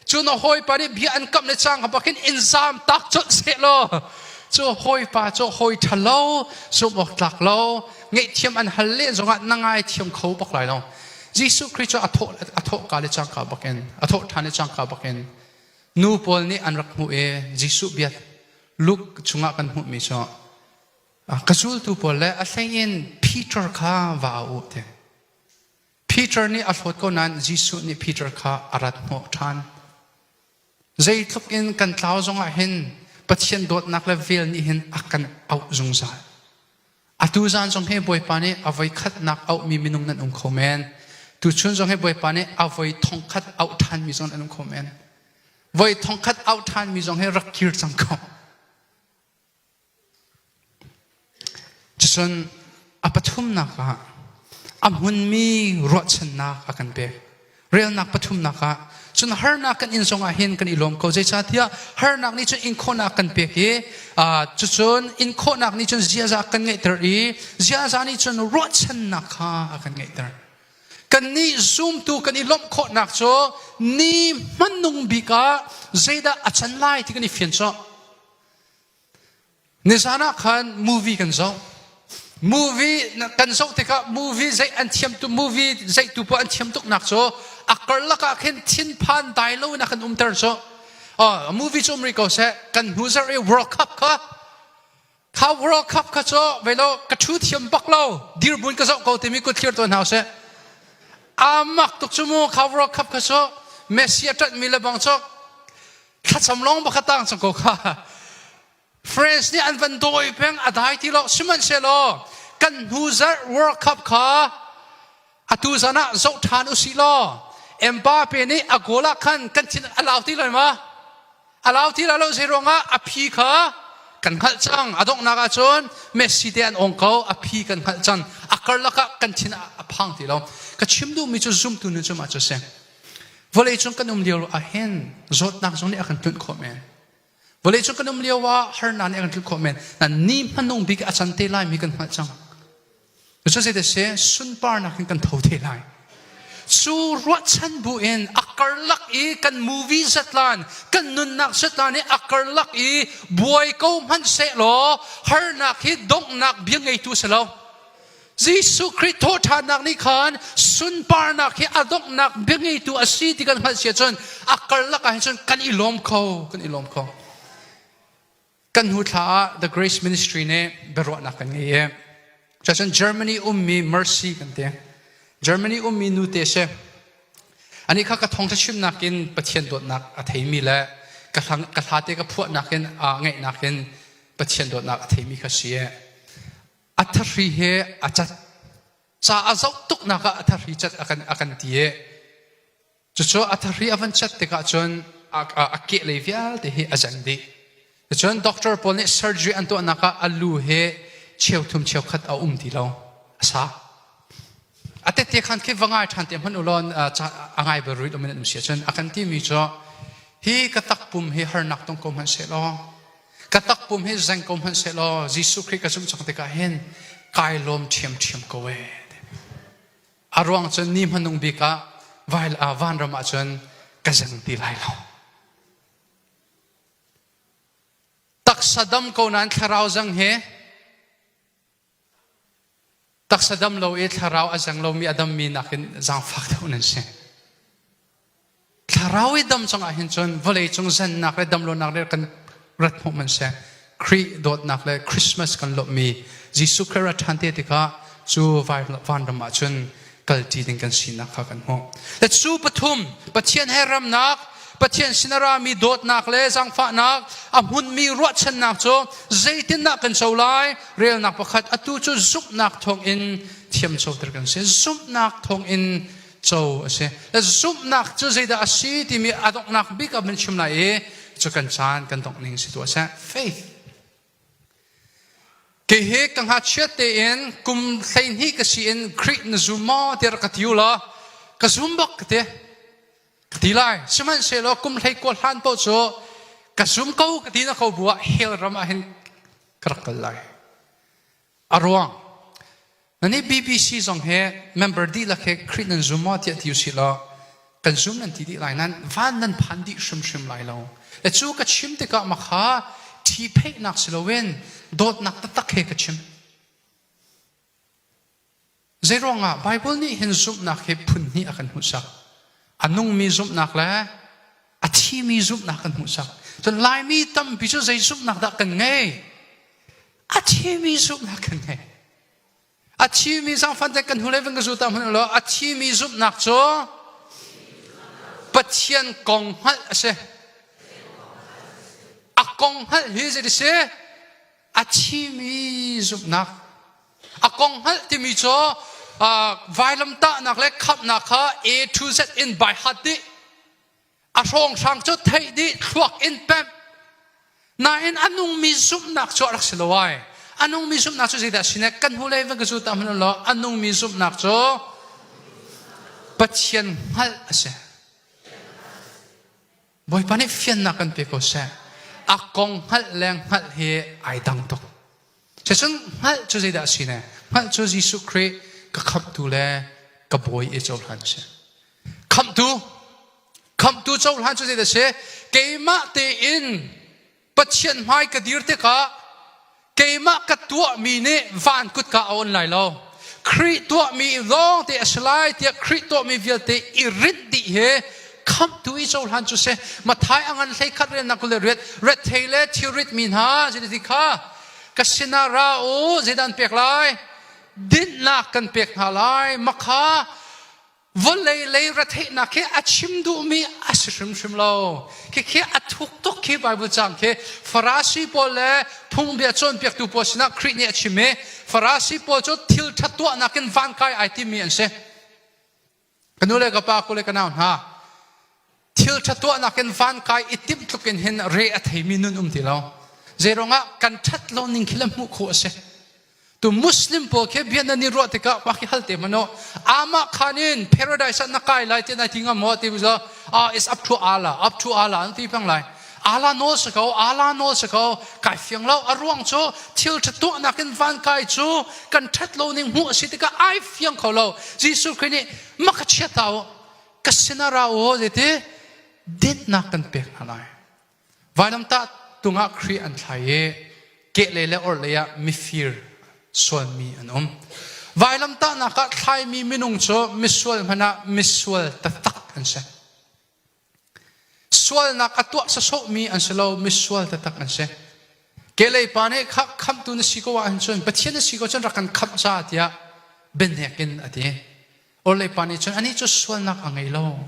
cu na hawipa nih bia an kam le cang ha bakin in zam tak colh seh law cu hawipa cu hawi ṭha lo zumh awk tlak lo ngeihthiam an hal len zongah na ngai thiam kho bak lai lo Jesuh Khrih cu a thawhka le cangka bakin a thawhṭhan le cangka bakin nu pawl nih an rak hmuh i Jesuh bia Luke chungah kan hmuhmi cu ka zultu pawl le a hleiin Peter kha va u ti. Peter nih a hlawt ko nain Jesuh nih Peter kha a rat hnawh ṭhan. Zeitluk in kan tlau zongah hin Pathian dawtnak le vel nih hin a kan auh zungzal. Atu zan zong hi Bawipa nih a voi khatnak auhmi minung nan um kho men. Tuchun zong hi Bawipa nih a voi thongkhat auh ṭhanmi zong nan um kho men. Voi thongkhat auh ṭhanmi zong hi rak kir cang ko. Cucun a pathumnak ah a hmunmi ruahchannak a kan pek. Relnak pathumnak ah cun harnak kan in zongah hin kan i lawm ko. Zeicahtiah harnak nih cun inkhawhnak kan pek i cucun inkhawhnak nih cun ziaza kan ngeihter i ziaza nih cun ruahchannak kha a kan ngeihter. Kannih zumtu kan i lawmh khawhnak cu ni hmanung bik ah zeidah a can lai ti kan i fian sawh. Nizan ah khan movie kan zoh. Movie kan zoh tikah movie zei an thiam tu movie zeitu paoh an thiam tuk nak cu a karlak ah khin thinphan dai lo in a kan umter cu. Oh, movie cu um rih ko seh. Kan hnu zarh i World Cup kha kha World Cup kha cu vei lo ka thu thiam bak lo dir bun ka zoh ko timi ku thlir tuan hau seh. Amak tuk cu mu kha World Cup kha cu Messi a tat mi le bang cu thlacam lawng pakhat tang cang ko kha France nih an van dawi peng a dai ti lo sihmanhsehlaw kan hnu zarh World Cup kha atu zan ah zoh ṭhan usi law Mbappe nih a goal ah khan kan thin a lau ti lo ma a lau ti lo zei ruangah a phi kha kan hngalh cang a donghnak ah cun Messi te an ong ko a phi kan hngalh cang a karlak ah kan thin a phang ti lo ka chim duhmi cu zumtu nu cu ma cu si Vawleicung kan um lio ahhin zawtnak zong nih a kan tunh khawh men. Vawleicung kan um lio ah harnak nih a kan tluk khawh men. Na ni hmanung bik a can te lai mi kan hngalh cang. Cucu zei te se sunparnak in kan tho te lai. Cu ruahchan bu in a karlak i kan movie zatlan, kan nunnak zatlan i a karlak i buai ko hmanh seh law harnak hi donghnak bia ngeitu si lo. Jesuh Khrih thawhṭhannak nih khan sunparnak hi a donghnak biangeitu a si ti kan hngalh si ahcun a karlak ah hin cun kan i lawm kho kan i lawm kho kan hnu thla ah the grace ministry nih biaruahnak kan ngei i cun Germany ummi mercy kan ti Germany ummi nute si anih kha ka thawngṭha chimnak in Pathian dawtnak a theimi le ka hlang ka hlate ka phuahnak in aa ngaihnak in Pathian dawtnak a theimi kha si a thahri he a cat ca a zoh tuknak ah a thahri cat a kan a kan ti i cucu a thahri a van cat tikah cun a, a, a keh lei vialte hi a jang dih cucun doctor pawl nih surgery an tuahnak ah a lu he cheu thum cheu khat a um ti lo a sa A tette khan khi va ngai ṭhan te hmanh u law a ngai bel ruit um in an um si ahcun a kan timi cu hi ka takpum hi harnak tong ko hmanh seh law ka takpum hi zeng ko hmanh seh law Jesuh Khrih ka zumh cang tikah hin kai lawm ṭhiamṭhiam ko e a ruang cun ni hmanung bik ah vanram ah cun ka zeng ti lai lo taksa dam ko nan thlarau zang hi Taksa dam lo i thlarau a zeng lomi a dammi nakin zaangfak deuh nan si. Thlarau i dam cungah hin cun vawleicung zennak le damlonak le kan rat hmuh man si. Khrih dawtnak le Christmas kan lawmhmi Jesuh Christ rat ṭhan te tikah cu vanram ah cun kalṭi ding kan sinak kha kan hmuh. Le cu pathum Pathian he remnak, Pathian sin a rami dawtnak le zangfahnak a hmunmi ruahchannak cu zeitindah kan co lai? Relnak pakhat atu cu zumhnak thawngin thiamcoter kan si. Zumhnak thawngin co a si. Zumhnak cu zeidah a si timi a donghnak bik ah min chim lai i cu kan caan kan dongh ning si tuah seh. Faith. Hihi ka ngachia tein kum hleihnih ka si in Greek na zum maw tiah ka ti u law ka zum bak ka ti. Ka ti lai. Sihmanhsehlaw kum hlei kuat hlan paoh cu ka zum ko ka ti na ko bu ah hell ram ah hin ka rak kal lai. a ruang na nih bbc zong he member dihlak he khrih nan zum maw tiah ti usih law kan zum nan ti dih lai nan van nan phan dih hrimhrim lai lo e cu ka chim tikah ma kha thi pheihnak si loin dawtnak taktak he ka chim Zeiruangah? Baibal nih hin zumhnak hi phunhnih a kan hmuhsak. A nungmi zumhnak le a thimi zumhnak kan hmuhsak. Cun Laimi tampi cu zei zumhnak dah kan ngei? A thimi zumhnak kan ngei. A thimi zangfan te kan hnu le vin ka zuta hmanh law a thimi zumhnak cu Pathian kong hngalh a si. A kong hngalh hi zei a si? a thimi zumhnak a kong hngalh timi cu vailamtahnak le khamhnak kha A to Z in by heart nih a hrawnghrang cu theih dih thluak in pemh nain a nungmi zumhnak cu a rak si lo ai a nungmi zumhnak cu zeidah si ne kan hnulei vang ka zu ta hman lo a nungmi zumhnak cu Pathian hngalh a si Bawipa nih fiannak kan pe ko seh. A kong hngalh le hngalh hi ai dang tuk. Cucun hngalh cu zeidah a si ne? Hngalh cu Jesuh Khrih ka khamhtu le ka bawi i cohlan si. Khamhtu, khamhtu cohlan cu zeidah a si? Keimah tein Pathian hmai ka dir tikah keimah ka tuahmi nih van kut ka awn lai lo. Khrih tuahmi lawngte a si lai tiah Khrih tuahmi vialte i rit dih he khamtu i cohlan cu si. Mathai a ngan hlei khat riannak kul le riat, ret thei le thirit mi hna, ziti ti kha ka sinah ra u, zeidan pek lai? Dinhnak kan pek hna lai. Makha vawlei lei retheihnak khi a chim duhmi a si hrimhrim lo khikhi a thuk tuk khi bible cang khi farasi pawl le phungbia cawnpiaktu pawl sinah khrih nih a chim i farasi pawl cu thil ṭha tuahnak in van kai ai timi an si ka nu le ka pa kule ka nau hna thilṭha tuahnak in van kai i timh tluk in hin re a theimi nun um ti lo zeiruangah kan ṭhat lo ning khi le hmuh khawh a si tu muslim pawl khi bia nan i ruah tikah mah khi hal te mano amah khan in paradise ah na kai lai ti nai ti ngam maw ti bizo ah is up to ala up to ala an ti pang lai ala nawl se ko ala nawl se ko kai fiang lo a ruang cu thil ṭha tuahnak in van kai cu kan ṭhat lo ning hmuh a si tikah ai fiang kho lo Jesuh Christ nih maka chia ta u ka sin a ra aw zeiti dinnak kan pek hna lai vainamtah tungah khrih an thlai i kehle le orhlei ah mifir sualmi an um vailamtahnak ah thlaimi minung cu misual hmanh ah misual tatak an si sualnak a tuah sasawhmi an si lo misual tatak an si kelei pa nih kha khamtu na si ko ahhin cun pathian na si ko cun rak kan khamh sa tiah benhek in a ti Orleipa nih cun anih cu sualnak a ngei lo.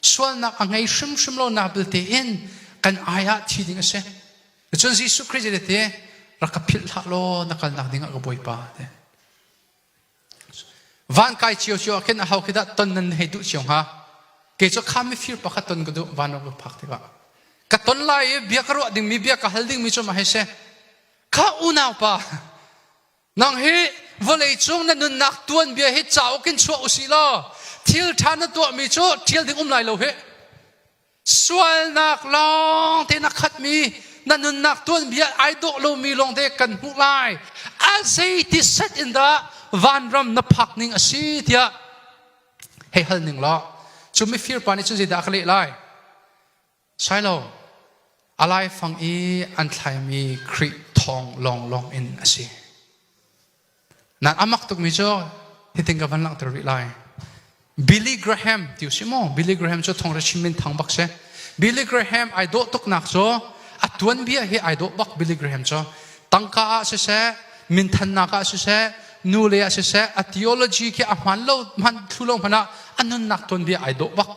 Sualnak a ngei hrimhrim lonak belte in kan ai ah thi ding a si. Cun Jesuh Khrih cu tete rak ka philh hlah law na kalnak dingah ka bawipa. Van kai cio cio ah khin a ho khi dah ton nan hei duh cio hnga? Kei cu kha mifir pakhat ton ka duh van rak ka phak tikah. Ka ton lai i bia ka ruah dingmi, bia ka hal dingmi cu mah hei si. Kha unaupa, nang hi vawleicung na nunnak tuanbia hi cauk in chuah u si law thil ṭha na tuahmi cu ṭhial ding um lai lo hi sualnak lawng te na khatmi na nunnak tuanbia ai dawh lomi lawngte kan hmuh lai a zeiti set in dah vanram na phak ning a si tiah hei hal ning law cu mifir pa nih cun zeidah ka leh lai sai lo a laifang i an thlaimi Khrih thawng lawnglawng in a si. Nan amak tukmi cu hitin ka van langhter rih lai. Billy Graham ti si maw? Billy Graham cu thong le chim in thang bak si. Billy Graham ai dawh tuknak cu a tuanbia hi ai dawh bak Billy Graham cu. Tangka ah siseh, minthannak ah siseh, nule ah siseh, a theology khi a hman lo, hman thlu lo hmanh ah a nunnak tuanbia ai dawh bak.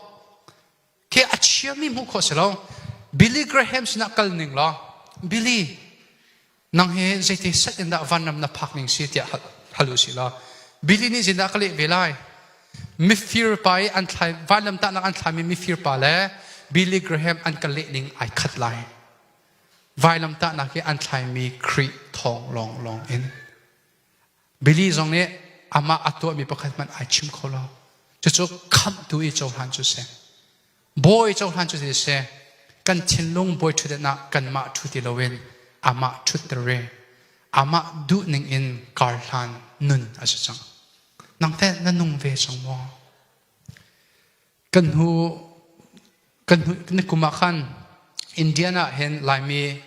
khi a chiami hmuh khawh si lo Billy Graham sinah kal ning law Billy nang he zeiti set in dah vanram na phak ning si tiah hal u si law Billy nih zindah ka leh ve lai mifir pa i an thlai vanlam tahnak an thlaimi mifir pa le Billy Graham an ka leh ning ai khat lai vailam tahnak i an thlaimi Khrih thawng lawng lawng in Billy zong nih amah a tuahmi pakhat hmanh ai chim kho lo. Cucu khamhtu i cohlan cu si. Bawi cohlan cu si seh, kan thinlung bawi ṭhutdan ah kanmah ṭhu ti loin amah ṭhutter i amah duhning in karhlan nun a si cang. Nang teh na nung ve cang maw? kan hnu kan hnu nikum ah khan Indian ah hin Laimi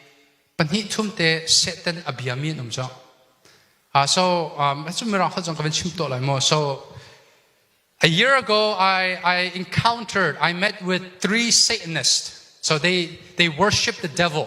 pahnih thumte sehten a biami an um cang. Uh, so um, that's Mirang kha ka van chim to lai mo. So a year ago I I encountered I met with three Satanists. So they they worship the devil.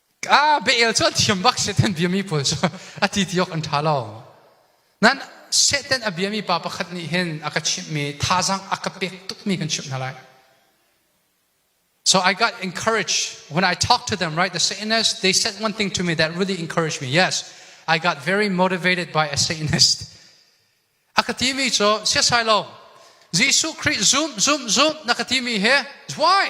a be'el cu thiam bak Satan biami pawl cu a ti ti awk an ṭha lo. Nan Satan a biami pa pakhat nih hin a ka chimhmi thazang a ka pek tukmi kan chimh hna lai. So I got encouraged. When I talk to them, right, the Satanist, they said one thing to me that really encouraged me. Yes, I got very motivated by a Satanist. A ka timi cu, siasai lo, Jesuh Christ, zoom, zoom, zoom, na ka timi he, why?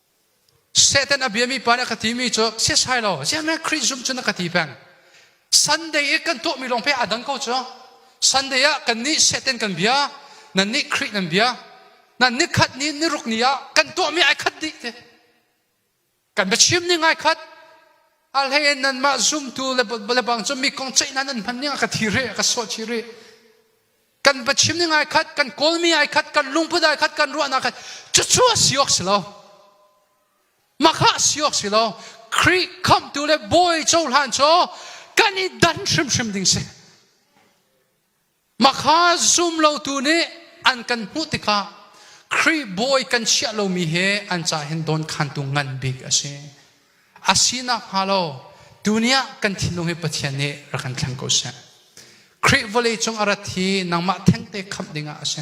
Satan a biami pa nih a ka timi cu siasai lo ziahmeh Khrih zumh cun a ka ti peng. Sunday i kan tuahmi lawng pei aa dang ko cu. Sunday ah kannih Satan kan bia, nannih Khrih nan bia, nan ni khat ni, ni ruk ni ah kan tuahmi ai khat dih ti. Kan biachim ning ai khat. A hlei in nanmah zumtu le bang cu mi kong ceih nan nan hman ning a ka thi rih, a ka suah chih rih. kan va chim ning ai khat kan kawlmi ai khat kan lungput ai khat kan ruahnak ai cucu a si awk si lo makha si awk si lo khrih khamtu le bawi cohlan cu kan i dan hrimhrim ding si makha zum lotu nih an kan hmuh tikah khrih bawi kan chiah lomi he an ca hin dawn khantu ngan bik a si A si nakhnga lo tuni ah kan thinlung hi Pathian nih rak kan thleng ko seh. Khrih vawlei cung a rat hi nangmah thengte khamh ding ah a si.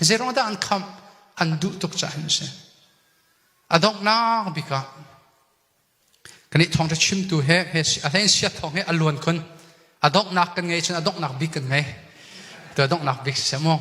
Zeiruangdah an khamh? An duh tuk caah a si. A donghnak bik ah kan i thawngṭha chimtu he a hlein sia thawng he a luan khun. A donghnak kan ngei cun a donghnak bik kan ngei. Tu a donghnak bik si maw?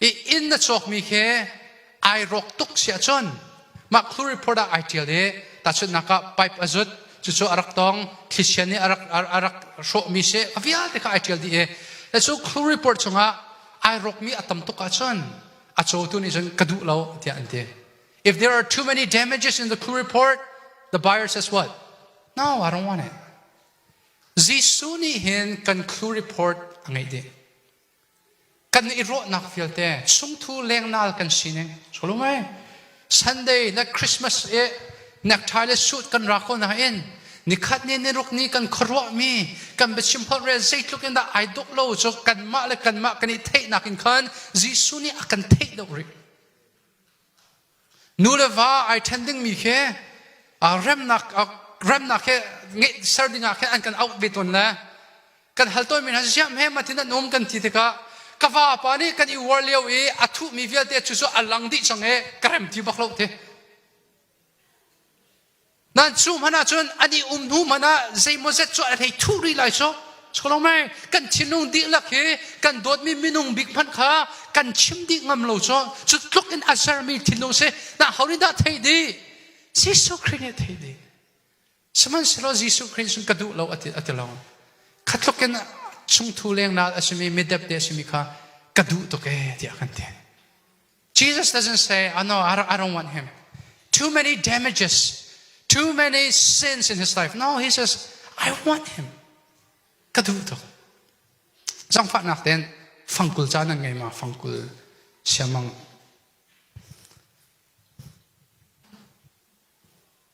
i inn na cawkmi khi ai rawk tuk si ahcun mah chlorine product ai ṭial i tahchunhnak ah pipe a zut cucu a rak tong thlicia nih a rak a rak hrawhmi si a vialte kha ai ṭial dih i cu chlorine product chungah ai rawkmi a tam tuk ahcun a cawtu nih cun ka duh lo tiah an ti if there are too many damages in the chlorine report the buyer says what no I don't want it Jesuh nih hin kan chlorine report a ngeih dih kan i ruahnak vialte chungthu lengnal kan sining solum ai sunday le christmas i nekthai le suit kan ra ko nain nikhat ni niruk ni kan khuaruah mi kan biachim holh rel zeitluk in dah ai duk lo cu kanmah le kanmah kan i theihnak in khan Jesuh nih a kan theih deuh rih Nu le va ai ṭhen dingmi khi remnak he ser dingah khin an kan auh ve tawn le kan hal tawnmi hna ziam he matin an um kan ti tikah ka vapa nih kan i uar lio i a thuhmi vialte cu cu a lang dih cang i ka rem ti bak lo ti nan cu hmanh ah cun an i um hnu hmanh ah zeimaw zet cu a hlei thu rih lai so cholomai kan thinlung dihlak hi kan dawtmi minung bik hmanh kha kan chim dih ngam lo so cu tluk in a sermi thinlung si na horin dah thei di Jesuh Christ nih thei di sihmanhsehlaw Jesuh Christ sun ka duh lo ati ati long khatluk in chungthu leng nal asimi midep de asimi kha ka duh tuk e tiah kan ti Jesus doesn't say, oh no, I don't, I don't want him. Too many damages, too many sins in his life. No, he says, I want him. Ka duh tuk. Zangfahnak ten fangkul caan an ngei ma fangkul siamang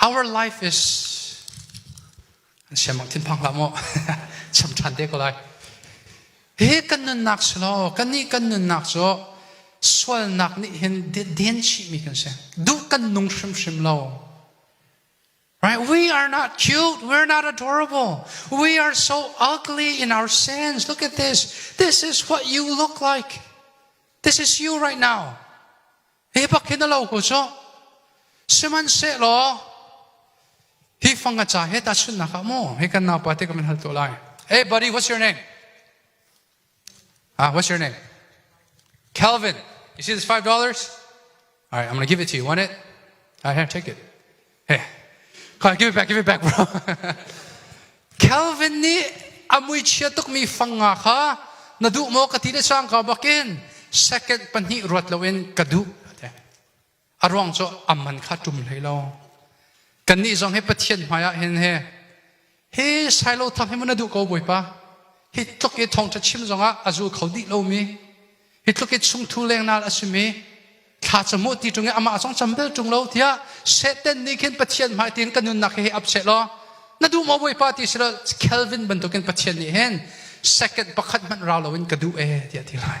Our life is an siam bang thinphang hlah maw cham ṭhan te ko lai hi kan nunnak si law kan nih kan nunnak cu sualnak nih hin den chihmi kan si duh kan nung hrimhrim lo Right? We are not cute. We're not adorable. We are so ugly in our sins. Look at this. This is what you look like. This is you right now. Hi bak hi na lo hu cu. Sihmanhsehlaw, hi fanga ca he ta chunnak ah mu, hi kan naupa te ka min hal tu lai. Hey, buddy, what's your name? Ah, what's your name? Calvin. You see this five dollars? All right, I'm gonna give it to you. Want it? All right, here, take it. Hey, give it back, give it back, bro. Calvin nih a muichia tukmi fanga kha na duh maw ka ti le sang ka bakin second pahnih ruat loin ka duh. A ruang cu amman kha tum hlei lo. Kannih zong he Pathian hmaiah hin he Hi Silo thang hi mun na duh ko Bawipa. Hi tluk i thawngtha chim zongah a zul kho dih lomi, hi tluk i chungthu lengnal a simi, thla ca hmuh ti tung i amah zong cham bel tung lo tiah Satan nih khin Pathian hmai tiin kan nunnak hi ap seh law na duh maw Bawipa ti si lo Calvin bantukin Pathian nih hin second pakhat hmanh rau loin ka duh e tiah ti lai.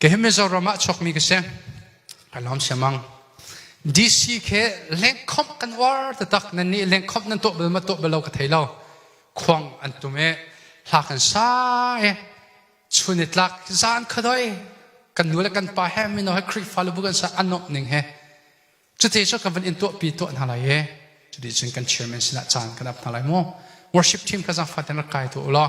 Kei hi Mizoram ah chuakmi ka si. Ka lawm siamang. DC khi lengkhawmh kan uar taktak. Nan nih lengkhawmh nan tuah bal ma tuah bal lo ka thei lo. Khuang an tum i hla kan sa i chun i tlak zan khadoi kan nu le kan pa he mino he Khrihfa lubu kan sa anawk ning he cuti cu kan van in tuah pi tuah hna lai i cuti cun kan chairman sinah caan kan ap hna lai mu worship team ka zang fatin rak kai tu ulaw